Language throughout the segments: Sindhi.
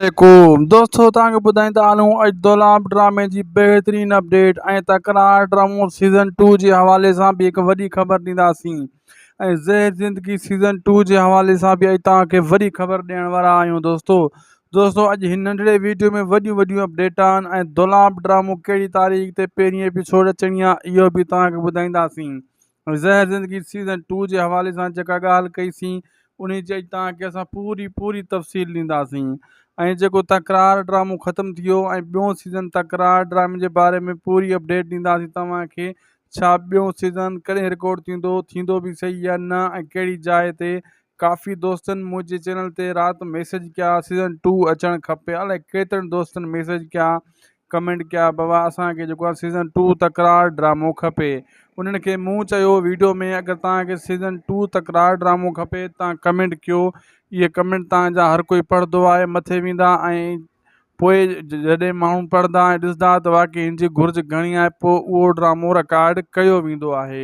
عليڪم دوستو توهان کي ٻڌائيندا هلون اڄ دولاب ڊرامي جي بهترين اپڊيٽ ۽ تڪرار ڊرامو سيزن ٽو جي حوالي سان به هڪ وڏي خبر ڏينداسين ۽ زهر زندگي سيزن ٽو جي حوالي سان به اڄ توهان کي وڏي خبر ڏيڻ وارا آهيون دوستو دوستو اڄ هن ننڍڙي ويڊيو ۾ وڏيون وڏيون اپڊيٽ آهن ۽ دولاب ڊرامو ڪهڙي تاريخ تي پهرين ايپيسوڊ اچڻي آهي اهو به توهان کي ٻڌائينداسين زهر زندگي سيزن ٽو جي حوالي سان جيڪا ڳالهه ڪئي سين انهي جي توهان کي اسان پوري پوري تفصيل ڏينداسين ۽ جيڪو تڪرار ڊرامو ختم ٿيو ۽ ٻيون سيزن تڪرار ڊرامي جي باري ۾ پوري اپڊيٽ ڏينداسين توهان کي ڇا ٻيون سيزن ڪڏهن رڪارڊ ٿيندو ٿيندو به صحيح يا نه ۽ ڪهڙي جاء تي ڪافي دوستن منهنجي چينل تي رات ميسج ڪيا سيزن ٽو اچڻ کپي الائي ڪيترن دوستن ميسج ڪيا ڪمينٽ ڪيا بابا اسان کي جيڪو آ سيزن ٽو تڪرار ڊرامو کپي انهن کي مون چيو ويڊيو ۾ اگر توهان کي سيزن ٽو تڪرار ڊرامو کپي توهان ڪمينٽ ڪيو اهي ڪمينٽ توهان جا هر ڪوئي پڙهندو آهي مٿي ويندا ۽ پوء جڏهن ماڻهو پڙهندا ۽ ڏسندا ته واقعي هن جي گهرج گهڻي آهي پوء اهو ڊرامو رڪارڊ ڪيو ويندو آهي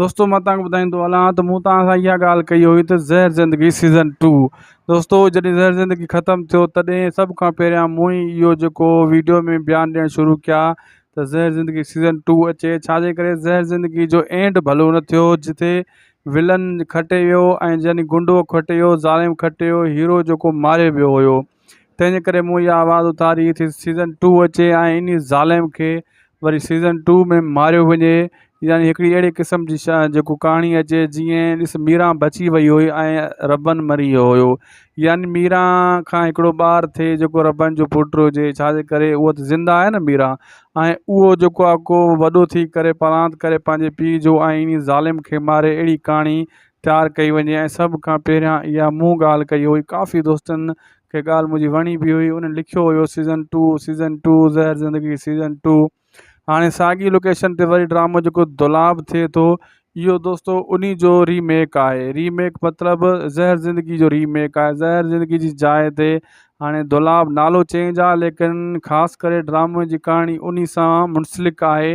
دوستو مان تان ٻڌائيندو هلان ته مون توهان سان اها ڳالهه ڪئي هئي ته زهر زندگي سيزن ٽو دوستو جڏهن زهر زندگي ختم ٿيو تڏهن سڀ کان پهريان مون ئي اهو جيڪو ويڊيو ۾ بيان ڏيڻ شروع ڪيا ته زهر زندگي سيزن ٽو اچي ڇا جي ڪري زهر زندگي جو اينڊ ڀلو نه ٿيو جتي ولن کٽي ويو ۽ يعني گنڊو کٽي ويو ظالم کٽي ويو هيرو جيڪو ماري ويو هيو تنهنجي ڪري مون اها آواز اٿاري تي سيزن ٽو اچي ۽ انهي ظالم کي وري سيزن ٽو ۾ ماريو وڃي يعني هڪڙي اهڙي قسم جي شا جيڪو ڪهاڻي اچي جيئن ڏس ميران بچي وئي هئي ۽ ربن مري ويو هيو يعني ميران کان هڪڙو ٻار ٿئي جيڪو ربن جو پٽ هجي ڇا جي ڪري اهو ته زنده آهي نه ميران ۽ اهو جيڪو آ ڪو وڏو ٿي ڪري پرانت ڪري پنهنجي پيء جو ۽ انهي ظالم کي ماري اهڙي ڪهاڻي تيار ڪئي وڃي ۽ سڀ کان پهريان اها مون ڳالهه ڪئي هئي ڪافي دوستن کي ڳالهه منهنجي وڻي به هئي انهن لکيو هيو season two season two Zehar Zindagi season two هاڻي ساڳي لوڪيشن تي وري ڊرامو جيڪو دولاب ٿئي ٿو اهو دوستو ان جو ريميڪ آهي ريميڪ مطلب زهر زندگي جو ريميڪ آهي زهر زندگي جي جاء تي هاڻي دولاب نالو چينج آهي ليڪن خاص ڪري ڊرامو جي ڪهاڻي ان سان منسلڪ آهي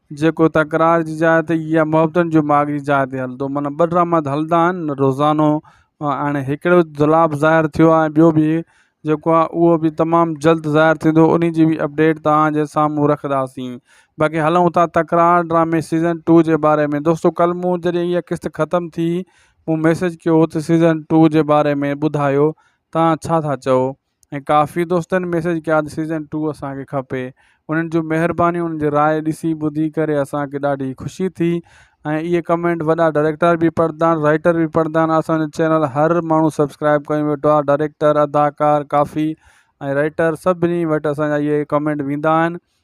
جيڪو تڪرار جي جاء تي يا محبتن جو ماڳ جي جاء تي هلندو معنيٰ ٻه ڊراما ته هلندا آهن روزانو هاڻي هڪڙو جلاب ظاهر ٿيو آهي ٻيو به جيڪو آهي اهو به تمام جلد ظاهر ٿيندو انهي جي به اپڊيٽ توهان جي سامهون رکنداسين باقي هلون ٿا تڪرار ڊرامي سيزن ٽو جي باري ۾ دوستو ڪل مون جڏهن اها قسط ختم ٿي مون ميسج ڪيو هو ته سيزن ٽو جي باري ۾ ٻڌايو توهان ڇا ٿا چئو ۽ ڪافي دوستن ميسيج ڪيا ته سيزن ٽو اسان کي کپي انهن جون مهربانيون انهن جي راء ڏسي ٻڌي ڪري اسان کي ڏاڍي خوشي ٿي ۽ اهي ڪمينٽ وڏا ڊائريڪٽر به پڙهندا آهن رائيٽر به پڙهندا آهن اسان جو چينل هر ماڻهو سبسڪرائب ڪري ويٺو آهي ڊائريڪٽر اداڪار ڪافي ۽ رائيٽر سڀني وٽ اسان جا اهي ڪمينٽ ويندا آهن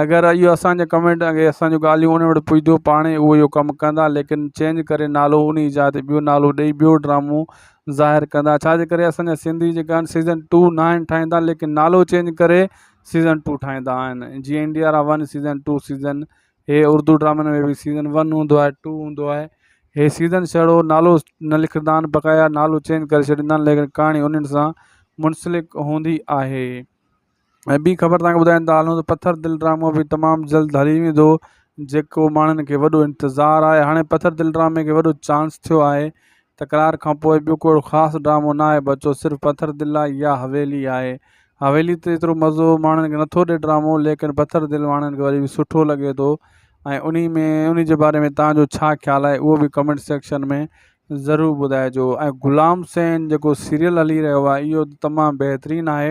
اگر اهو اسان جي ڪمينٽ ۽ اسان جون ڳالهيون انهن وٽ پڄنديون پاڻهي اهو اهو ڪم ڪندا ليڪن چينج ڪري نالو انهي جاء تي ٻيو نالو ڏئي ٻيو ڊرامو ظاهر ڪندا ڇا جي ڪري اسان جا سنڌي جيڪا آهن سيزن ٽو ناهن ٺاهيندا ليڪن نالو چينج ڪري سيزن ٽو ٺاهيندا آهن جيئن India Ra one season two season هي اردو ڊرامن ۾ به سيزن ون هوندو آهي ٽو هوندو آهي هي سيزن سهڙو نالو نه لکندا آهن بقايا نالو چينج ڪري ڇڏيندا آهن ليڪن ڪهاڻي انهن سان منسلڪ هوندي آهي. ۽ ٻي خبر توهان کي ٻڌايون ته هالون ته پٿر دل ڊرامو به تمام جلد هلي ويندو جيڪو ماڻهن کي وڏو انتظار آهي هاڻي پٿر دل ڊرامي کي وڏو چانس ٿيو آهي تڪرار کان پوء ٻيو ڪوڙو خاص ڊرامو ناهي بچو صرف پٿر دل آهي يا حويلي آهي حويلي ته ايترو مزو ماڻهن کي نٿو ڏي ڊرامو ليڪن پٿر دل ماڻهن کي وري به سٺو لڳي ٿو ۽ انهي ۾ انهي جي باري ۾ توهان جو ڇا خيال آهي اهو به ڪمينٽ سيڪشن ۾ ضرور ٻڌائجو ۽ غلام سين جيڪو سيريل هلي رهيو آهي اهو تمام بهترين آهي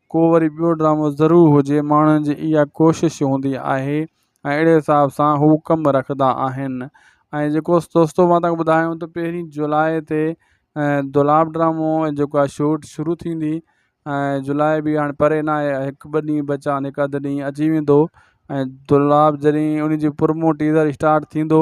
ڪو وري ٻيو ڊرامو ضرور هجي ماڻهن جي اها ڪوشش هوندي آهي ۽ اهڙي حساب سان هو ڪم رکندا آهن ۽ جيڪو دوستو مان تان ٻڌايو ته پهرين جولاء تي دولاب ڊرامو جيڪو آهي شوٽ شروع ٿيندي ۽ جولاء به هاڻي پري نه آهي هڪ ٻه ڏينهن بچا آهن هڪ اڌ ڏينهن اچي ويندو ۽ دولاب جڏهن ان جي پرمو ٽيزر اسٽارٽ ٿيندو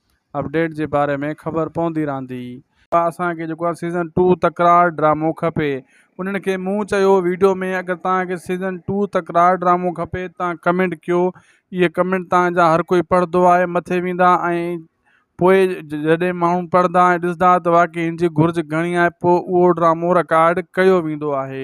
اپڊيٽ جي باري ۾ خبر پوندي رھندي. ڀا اسان کي جيڪو آ سيزن ٽو تڪرار ڊرامو کپي انھن کي مون چيو ويڊيو ۾ اگر توھان کي سيزن ٽو تڪرار ڊرامو کپي تان ڪمينٽ ڪيو اھي ڪمينٽ تان جا ھر ڪوئي پڙھندو آھي مٿي ويندا ۽ پوء جڏھن ماڻھو پڙھندا ۽ ڏسدا ته واقعي ھن جي گھرج گھڻي آھي پوء اھو ڊرامو رڪارڊ ڪيو ويندو آھي.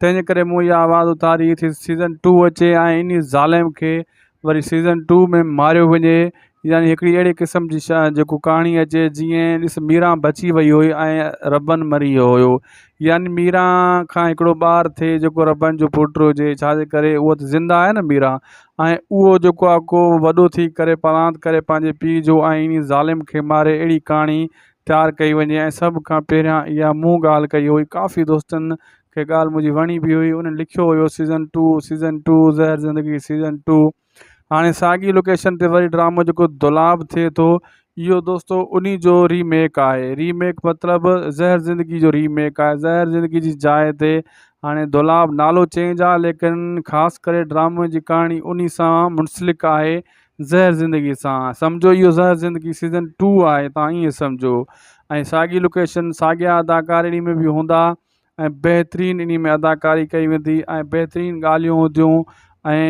تنهنجي ڪري مون اها آواز اٿاري تھ سيزن ٽو اچي ۽ انهي ظالم کي وري سيزن ٽو ۾ ماريو وڃي يعني هڪڙي اهڙي قسم جي جيڪو ڪهاڻي اچي جيئن ڏس ميران بچي وئي هئي ۽ ربن مري ويو هيو يعني ميران کان هڪڙو ٻار ٿئي جيڪو ربن جو پٽ هجي ڇا جي ڪري اهو تھ زنده آهي نھ ميران ۽ اهو جيڪو آهي ڪو وڏو ٿي ڪري پرانت ڪري پنهنجي پيء جو ۽ انهي ظالم کي ماري اهڙي ڪهاڻي تيار ڪئي وڃي ۽ سڀ کان پهريان اها مون ڳالهه ڪئي هئي ڪافي دوستن کي ڳالهه منهنجي وڻي به هئي انهن لکيو هيو season two season two Zehar Zindagi season two هاڻي ساڳي لوڪيشن تي وري ڊرامو جيڪو دولاب ٿئي ٿو اهو دوستو انهي جو ري ميڪ آهي ري ميڪ مطلب زهر زندگي جو ري ميڪ آهي زهر زندگي جي جاء تي هاڻي دولاب نالو چينج آهي ليڪن خاص ڪري ڊرامي جي ڪهاڻي انهي سان منسلڪ آهي زهر زندگي سان سمجهو اهو زهر زندگي سيزن ٽو آهي تان ايئن سمجهو ۽ ساڳي لوڪيشن ساڳيا اداڪار اني ۾ به هوندا ۽ بهترين اني ۾ اداڪاري ڪئي ويندي ۽ بهترين ڳالهيون هونديون ۽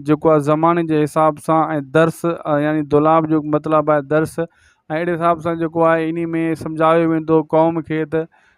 جيڪو آهي زماني جي حساب سان ۽ درس يعني دولاب جو مطلب آهي درس ۽ اهڙي حساب سان جيڪو آهي اني ۾ سمجهايو ويندو قوم کي ته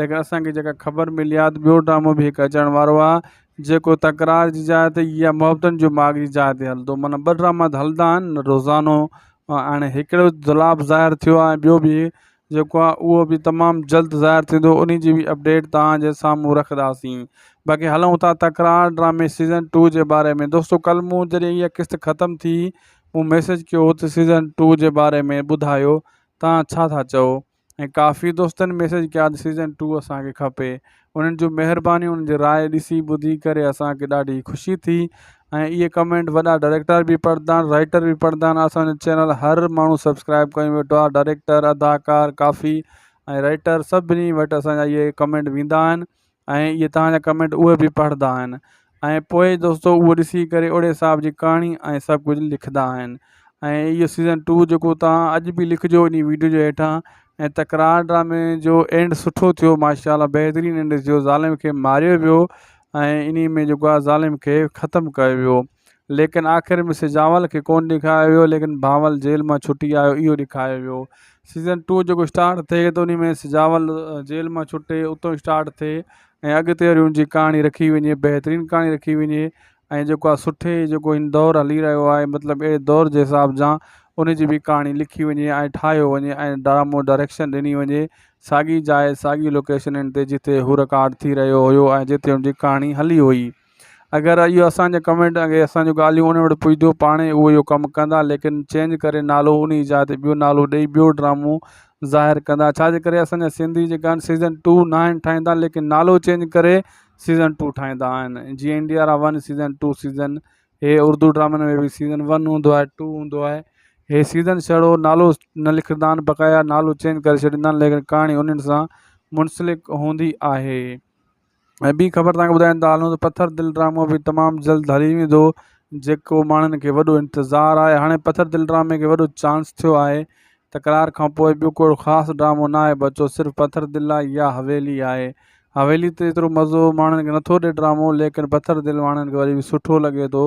ليڪن اسان کي جيڪا خبر ملي آهي ته ٻيو ڊرامو به هڪ اچڻ وارو آهي جيڪو تڪرار جي جاء تي يا محبتن جو ماڳ جي جاء تي هلندو معنيٰ ٻه ڊراما ته هلندا آهن نه روزانو ۽ هاڻي هڪڙو جلاب ظاهر ٿيو آهي ٻيو به جيڪو آهي اهو به تمام جلد ظاهر ٿيندو انهي جي به اپڊيٽ توهان جي سامهون رکنداسين باقي هلون ٿا تڪرار ڊرامي سيزن ٽو جي باري ۾ دوستو ڪل مون جڏهن اها قسط ختم ٿي مون ميسيج ڪيو هو ته سيزن ٽو جي باري ۾ ٻڌايو توهان ڇا ٿا چئو ۽ ڪافي دوستن ميسيج ڪيا ته سيزن ٽو اسان کي کپي انهن جون مهربانيون انهن جي راء ڏسي ٻڌي ڪري اسان کي ڏاڍي خوشي ٿي ۽ اهي ڪمينٽ وڏا ڊائريڪٽر به پڙهندا آهن رائيٽر به پڙهندا آهن اسانجو چينل هر ماڻهو سبسڪرائب ڪري ويٺو آهي ڊائريڪٽر اداڪار ڪافي ۽ رائيٽر سڀني وٽ اسانجا اهي ڪمينٽ ويندا آهن ۽ اهي توهان جا ڪمينٽ اهي به پڙهندا آهن ۽ پوء دوستو اهو ڏسي ڪري اوڙي حساب جي ڪهاڻي ۽ سڀ ڪجهه لکندا آهن ۽ اهو سيزن ٽو جيڪو توهان اڄ به لکجو ان ويڊيو جي هيٺان ۽ تڪرار ڊرامي جو اينڊ سٺو ٿيو ماشا الله بهترين اينڊ ٿيو ظالم کي ماريو ويو ۽ ان ۾ جيڪو آهي ظالم کي ختم ڪيو ويو ليڪن آخر ۾ سي جانول کي ڪونه ڏيکايو ويو ليڪن بانول جيل مان ڇٽي آيو اهو ڏيکايو ويو سيزن ٽو جيڪو اسٽارٽ ٿئي ته ان ۾ سي جانول جيل مان ڇٽي اتو اسٽارٽ ٿئي ۽ اڳتي وري ان جي ڪهاڻي رکي وڃي بهترين ڪهاڻي رکي وڃي ۽ جيڪو آ سٺي جيڪو هن دور هلي رهيو آهي مطلب اهڙي دور جي حساب جان ان جي به ڪهاڻي لکي وڃي ۽ ٺاهيو وڃي ۽ ڊرامو ڊائريڪشن ڏني وڃي ساڳي جاء ساڳي لوڪيشنن تي جتي هو رڪارڊ ٿي رهيو هيو ۽ جتي ان جي ڪهاڻي هلي هئي اگر اهو اسان جا ڪمينٽ ۽ اسان جون ڳالهيون انهن وٽ پڄنديون پاڻ ئي اهو اهو ڪم ڪندا ليڪن چينج ڪري نالو انهي جاء تي ٻيو نالو ڏئي ٻيو ڊرامو ظاهر ڪندا ڇا جي ڪري اسان جا سنڌي جيڪا آهن سيزن ٽو ناهن ٺاهيندا ليڪن نالو چينج ڪري سيزن ٽو ٺاهيندا آهن جيئن India Ra one season two season هي اردو ڊرامن ۾ به سيزن ون هوندو آهي ٽو هوندو آهي هي سيزن سهڙو نالو نه لکندا آهن بقايا نالو چينج ڪري ڇڏيندا آهن ليڪن ڪهاڻي انهن سان منسلڪ هوندي آهي ۽ ٻي خبر تهانکي ٻڌائين ٿا هلون ته پٿر دل ڊرامو به تمام جلد هلي ويندو جيڪو ماڻهن کي وڏو انتظار آهي هاڻي پٿر دل ڊرامي کي وڏو چانس ٿيو آهي تڪرار کانپوء ٻيو ڪو اهڙو خاص ڊرامو ناهي بچو صرف پٿر دل آهي يا حويلي آهي حويلي تي ايترو مزو ماڻهن کي نٿو ڏي ڊرامو ليڪن پٿر دل ماڻهن کي وري به سٺو لڳي ٿو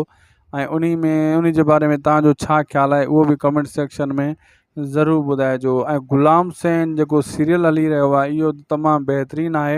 ۽ انهي ۾ انهي جي باري ۾ تهانجو ڇا خيال آهي اهو به ڪمينٽ سيڪشن ۾ ضرور ٻڌائجو ۽ غلام سين جيڪو سيريل هلي رهيو آهي اهو تمام بهترين آهي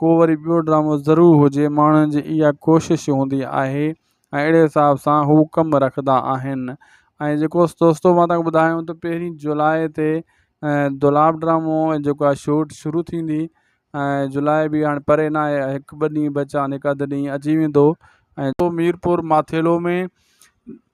ڪو وري ٻيو ڊرامو ضرور هجي ماڻهن جي اها ڪوشش هوندي آهي ۽ اهڙي حساب سان هو ڪم رکندا آهن ۽ جيڪو دوستو مان تنگ ٻڌايو ته پهرين جولاء تي دولاب ڊرامو جيڪو آهي شوٽ شروع ٿيندي ۽ جولاء به هاڻي پري نه آهي هڪ ٻه ڏينهن بچا آهن هڪ اڌ ڏينهن اچي ويندو ۽ ميرپور ماٿيلو ۾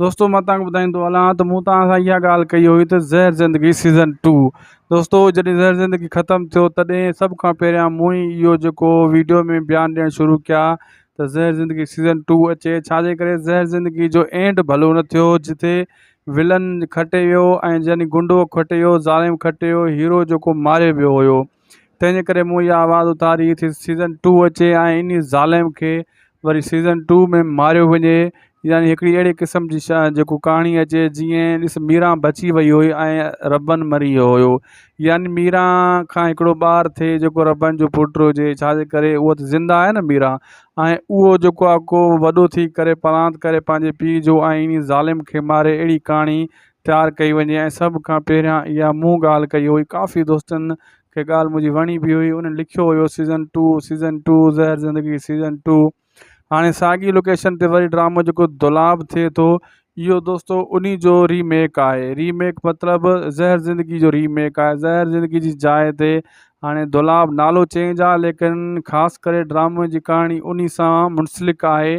دوستو مان توهان کي ٻڌائين ٿو هلان ته مون توهان سان اها ڳالهه ڪئي هئي ته زهر زندگي سيزن ٽو دوستو جڏهن زهر زندگي ختم ٿيو تڏهن سڀ کان پهريان مون ئي اهو جيڪو ويڊيو ۾ بيان ڏيڻ شروع ڪيا ته زهر زندگي سيزن ٽو اچي ڇا جي ڪري زهر زندگي جو اينڊ ڀلو نه ٿيو جتي ولن کٽي ويو ۽ يعني گنڊو کٽي ويو ظالم کٽي ويو هيرو جيڪو ماري ويو هيو تنهنجي ڪري مون اها آواز اٿاري تھ سيزن ٽو اچي ۽ انهي ظالم کي وري سيزن ٽو ۾ ماريو وڃي يعني هڪڙي اهڙي قسم جي جيڪو ڪهاڻي اچي جيئن ڏس ميران بچي وئي هئي ۽ ربن مري ويو هيو يعني ميران کان هڪڙو ٻار ٿئي جيڪو ربن جو پٽ هجي ڇا جي ڪري اهو تھ زنده آهي نھ ميران ۽ اهو جيڪو آهي ڪو وڏو ٿي ڪري پرانت ڪري پنهنجي پيء جو ۽ انهي ظالم کي ماري اهڙي ڪهاڻي تيار ڪئي وڃي ۽ سڀ کان پهريان اها مون ڳالهه ڪئي هئي ڪافي دوستن کي ڳالهه منهنجي وڻي به هئي انهن لکيو هيو season two season two Zehar Zindagi season two هاڻي ساڳي لوڪيشن تي وري ڊرامو جيڪو دولاب ٿئي ٿو اهو دوستو ان جو ريميڪ آهي ريميڪ مطلب زهر زندگي جو ريميڪ آهي زهر زندگي جي جاء تي هاڻي دولاب نالو چينج آهي ليڪن خاص ڪري ڊرامو جي ڪهاڻي ان سان منسلڪ آهي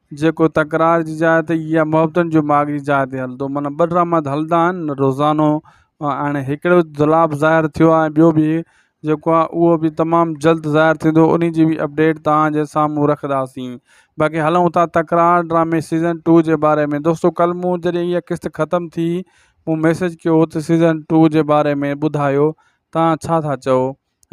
جيڪو تڪرار جي جاء تي يا محبتن جو ماڳ جي جاء تي هلندو معنيٰ ٻه ڊراما ته هلندا آهن روزانو ۽ هاڻي هڪڙو جلاب ظاهر ٿيو آهي ٻيو به جيڪو آهي اهو به تمام جلد ظاهر ٿيندو انهي جي به اپڊيٽ توهان جي سامهون رکنداسين باقي هلون ٿا تڪرار ڊرامي سيزن ٽو جي باري ۾ دوستو ڪل مون جڏهن اها قسط ختم ٿي مون ميسيج ڪيو هو ته سيزن ٽو جي باري ۾ ٻڌايو توهان ڇا ٿا چئو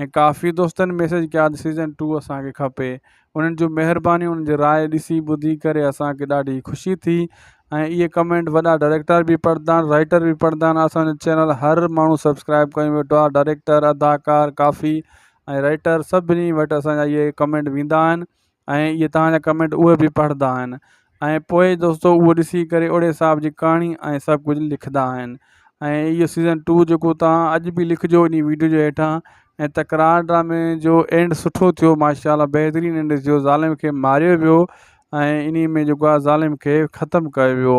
۽ ڪافي دوستن ميسيج ڪيا ته سيزن ٽو اسان کي کپي انهن جون مهربانيون انهن جي راء ڏسي ٻڌي ڪري اسان کي ڏاڍي خوشي ٿي ۽ اهي ڪمينٽ وڏا ڊائريڪٽر به پڙهندا آهن رائيٽر به پڙهندا آهن اسان جو چينل هر ماڻهو سبسڪرائب ڪري ويٺو آهي ڊائريڪٽر اداڪار ڪافي ۽ رائيٽر سڀني وٽ اسان جا اهي ڪمينٽ ويندا آهن ۽ اهي توهان جا ڪمينٽ اهي به پڙهندا آهن ۽ پوء دوستو اهو ڏسي ڪري اوڙي حساب جي ڪهاڻي ۽ سڀ ڪجهه لکندا آهن ۽ اهو سيزن ٽو جيڪو توهان اڄ به لکجو انهي ويڊيو جي هيٺان ۽ تڪرار ڊرامي جو اينڊ سٺو ٿيو ماشا الله بهترين اينڊ ٿيو ظالم کي ماريو ويو ۽ انهي ۾ جيڪو آهي ظالم کي ختم ڪيو ويو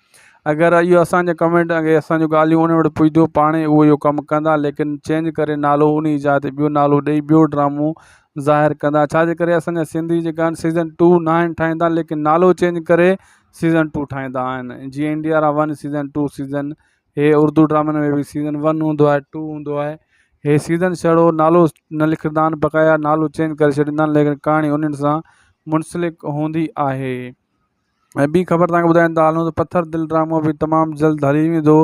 اگر اهو اسان جي ڪمينٽ ۽ اسان جون ڳالهيون انهن وٽ پڄنديون پاڻهي اهو اهو ڪم ڪندا ليڪن چينج ڪري نالو انهي جاء تي ٻيو نالو ڏئي ٻيو ڊرامو ظاهر ڪندا ڇا جي ڪري اسان جا سنڌي جيڪا آهن سيزن ٽو ناهن ٺاهيندا ليڪن نالو چينج ڪري سيزن ٽو ٺاهيندا آهن جيئن India Ra one season two season هي اردو ڊرامن ۾ به سيزن ون هوندو آهي ٽو هوندو آهي هي سيزن سهڙو نالو نه لکندا آهن بقايا نالو چينج ڪري ڇڏيندا آهن ليڪن ڪهاڻي انهن سان منسلڪ هوندي آهي ۽ ٻي خبر توهان کي ٻڌائين ته هالونس پٿر دل ڊرامو به تمام جلد هلي ويندو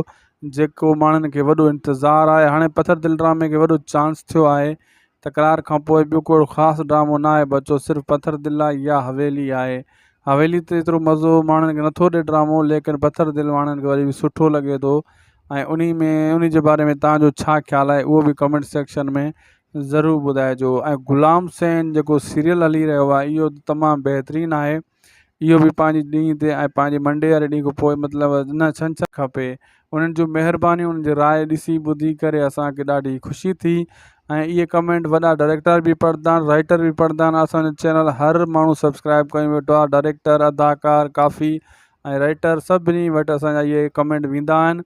جيڪو ماڻهن کي وڏو انتظار آهي هاڻي پٿر دل ڊرامي کي وڏو چانس ٿيو آهي تڪرار کانپوء ٻيو ڪو اهڙو خاص ڊرامو ناهي بچو صرف پٿر دل آهي يا حويلي آهي حويلي تي ايترو مزو ماڻهن کي نٿو ڏي ڊرامو ليڪن پٿر دل ماڻهن کي وري به سٺو لڳي ٿو ۽ انهي ۾ انهي جي باري ۾ توهان جو ڇا خيال آهي اهو به ڪمينٽ سيڪشن ۾ ضرور ٻڌائجو ۽ غلام سين جيڪو سيريل هلي رهيو آهي اهو تمام بهترين آهي اهو به پنهنجي ڏينهن تي ۽ پنهنجي منڊي واري ڏينهن کان پوء مطلب نه ڇنڇر کپي انهن جون مهربانيون انهن جي راء ڏسي ٻڌي ڪري اسانکي ڏاڍي خوشي ٿي ۽ اهي ڪمينٽ وڏا ڊائريڪٽر به پڙهندا آهن رائيٽر به پڙهندا آهن اسانجو چينل هر ماڻهو سبسڪرائيب ڪيو ويٺو آهي ڊائريڪٽر اداڪار ڪافي ۽ رائيٽر سڀني وٽ اسانجا اهي ڪمينٽ ويندا آهن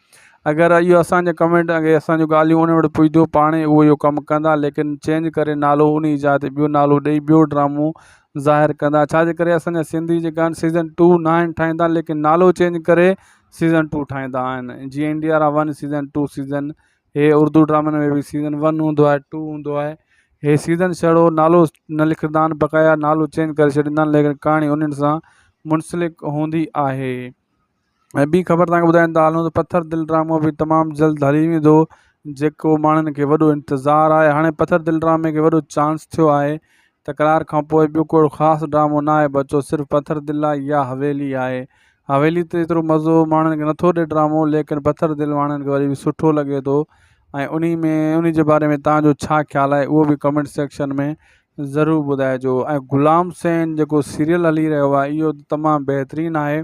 اگر اهو اسان جا ڪمينٽ ۽ اسان جون ڳالهيون انهن وٽ پڄنديون پاڻ ئي اهو اهو ڪم ڪندا ليڪن چينج ڪري نالو انهي جاء تي ٻيو نالو ڏئي ٻيو ڊرامو ظاهر ڪندا ڇا جي ڪري اسان جا سنڌي جيڪا آهن سيزن ٽو ناهن ٺاهيندا ليڪن نالو چينج ڪري سيزن ٽو ٺاهيندا آهن جيئن India Ra one season two season هي اردو ڊرامن ۾ به سيزن ون هوندو آهي ٽو هوندو آهي هي سيزن سهڙو نالو نه لکندا آهن بقايا نالو چينج ڪري ڇڏيندا آهن ليڪن ڪهاڻي انهن سان منسلڪ هوندي آهي ۽ ٻي خبر توهان کي ٻڌايان ٿا هلون ته پٿر دل ڊرامو به تمام جلد هلي ويندو جيڪو ماڻهن کي وڏو انتظار آهي هاڻي پٿر دل ڊرامي کي وڏو چانس ٿيو آهي تڪرار کان پوء ٻيو ڪوڙو خاص ڊرامو نه آهي بچو صرف پٿر دل آهي يا حويلي آهي حويلي تي ايترو مزو ماڻهن کي نٿو ڏي ڊرامو ليڪن پٿر دل ماڻهن کي وري به سٺو لڳي ٿو ۽ انهي ۾ انهي جي باري ۾ توهان جو ڇا خيال آهي اهو به ڪمينٽ سيڪشن ۾ ضرور ٻڌائجو ۽ غلام سين جيڪو سيريل هلي رهيو آهي اهو تمام بهترين آهي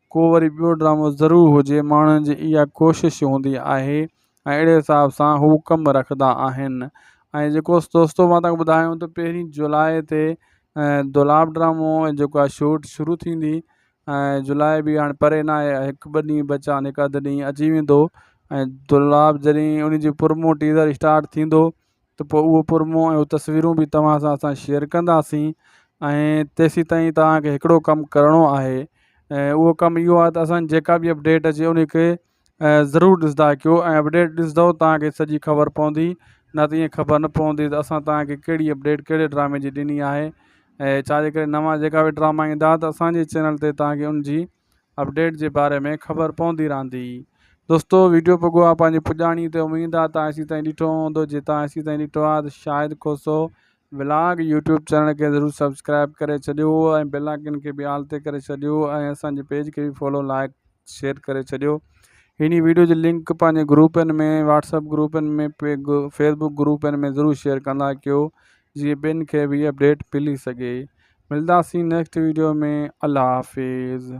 ڪو وري ٻيو ڊرامو ضرور هجي ماڻهن جي اها ڪوشش هوندي آهي ۽ اهڙي حساب سان هو ڪم رکندا آهن ۽ جيڪو دوستو مان تنگ ٻڌايو ته پهرين جولاء تي دولاب ڊرامو جيڪو آهي شوٽ شروع ٿيندي ۽ جولاء به هاڻي پري نه آهي هڪ ٻه ڏينهن بچا آهن هڪ اڌ ڏينهن اچي ويندو ۽ دولاب جڏهن ان جي پرمو ٽيزر اسٽارٽ ٿيندو ته پوء اهو پرمون ۽ اهو تصويرون به توهان سان اسان شيئر ڪنداسين ۽ تيسيتائين توهان کي هڪڙو ڪم ڪرڻو آهي ۽ اهو ڪم اهو آهي ته اسان جيڪا به اپڊيٽ اچي ان کي ضرور ڏسندا ڪيو ۽ اپڊيٽ ڏسندو توهان کي سڄي خبر پوندي نه ته ائين خبر نه پوندي ته اسان توهان کي ڪهڙي اپڊيٽ ڪهڙي ڊرامي جي ڏني آهي ۽ ڇا جي ڪري نوان جيڪا به ڊراما ايندا ته اسان جي چينل تي توهان کي ان جي اپڊيٽ جي باري ۾ خبر پوندي رھندي. دوستو ويڊيو پڳو آ پنهنجي پڄاڻي تي اميد آ تان ايسي تائين ڏٺو ھوندو جي تان ايسي تائين ڏٺو آ ته Shahid Khoso vlog YouTube channel کي ضرور سبسڪرائب ڪري ڇڏيو ۽ بيل آئيڪن کي به آل تي ڪري ڇڏيو ۽ اسان جي پيج کي به فالو لائيڪ شيئر ڪري ڇڏيو ھني ويڊيو جي لنڪ پنهنجي گروپن ۾ واٽس اپ گروپن ۾ فيس بڪ گروپن ۾ ضرور شيئر ڪندا ڪيو جيئن ٻين کي به اپڊيٽ ملي سگهي ملداسين نيڪسٽ ويڊيو ۾ الله حافظ.